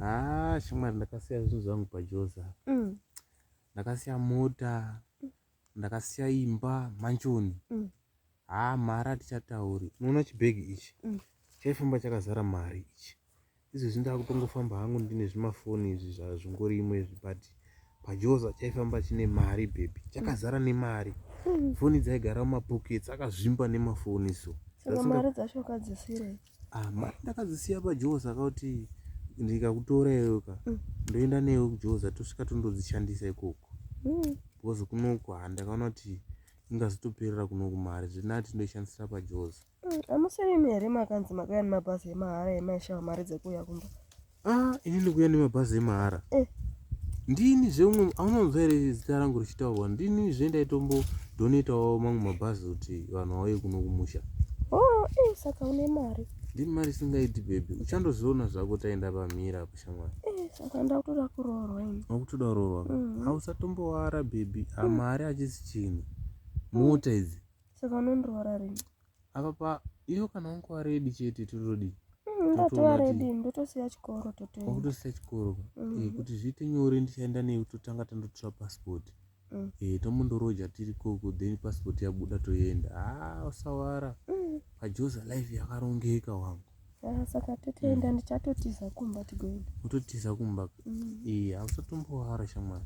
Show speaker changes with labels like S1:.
S1: Ah, shamwari ndakasiya zvinhu zvangu pajoza mm. ndakasiya mota mm. ndakasiya imba manchoni mm. haa ah, mari hatichatauri unoona chibhegi ichi mm. chaifamba chakazara mari ichi izvezvi ndakutongofamba hangu ndine zvimafoni izvi zvazvingori imwe izvi but pajoza chaifamba chine mari bhebhi chakazara nemari mm. foni dzaigara mumapokets akazvimba nemafoni so mari
S2: dzacho kadzisirei ah, mari
S1: ndakadzisiya pajoe saka kuti ndikakutora iyoka mm. ndoenda newe kujoza tosvika tondodzishandisa ikoko mm. because kunoko handakaona kuti ingazotoperera kunoku mari zvinati ndoishandisira pajoza mm, amusirimi
S2: here makanzi makuyani mabhazi emahara emaishawa mari dzekuuya kumba Ah, ini ndikuya
S1: nemabhazi emahara. Eh. Ndini zveumwe aunonzwa here zita rangu richitaurwa ndini zve ndaitombo donetawo mamwe mabhazi kuti vanhu vauye kuno kumusha. Oh, eh,
S2: saka une mari. Ndini mari singaiti bebe.
S1: Uchandoziona zvako taenda pamira apo shamwari. Eh, saka ndakutoda
S2: kuroorwa ini. Wakutoda kuroorwa. Mm -hmm.
S1: Hausatomboara bebe. Amari ah, mm. achisi chinhu. Mota idzi. Saka unondiroora
S2: rini? apa pa
S1: iyo kana wangova redi chete totodii mm, ndatova
S2: redi ndotosiya chikoro tototosiya oh, chikoro
S1: mm. eh, kuti zviite nyore ndichaenda newe totanga tandotora passport mm. eh, tomondoroja tiri koko then passport yabuda toenda a ah, usawara pajoza life yakarongeka wangu ah, saka
S2: totoenda ndichatotiza kumba tigoenda
S1: utotiza kumba
S2: ee
S1: eh, hausatombohara shamwari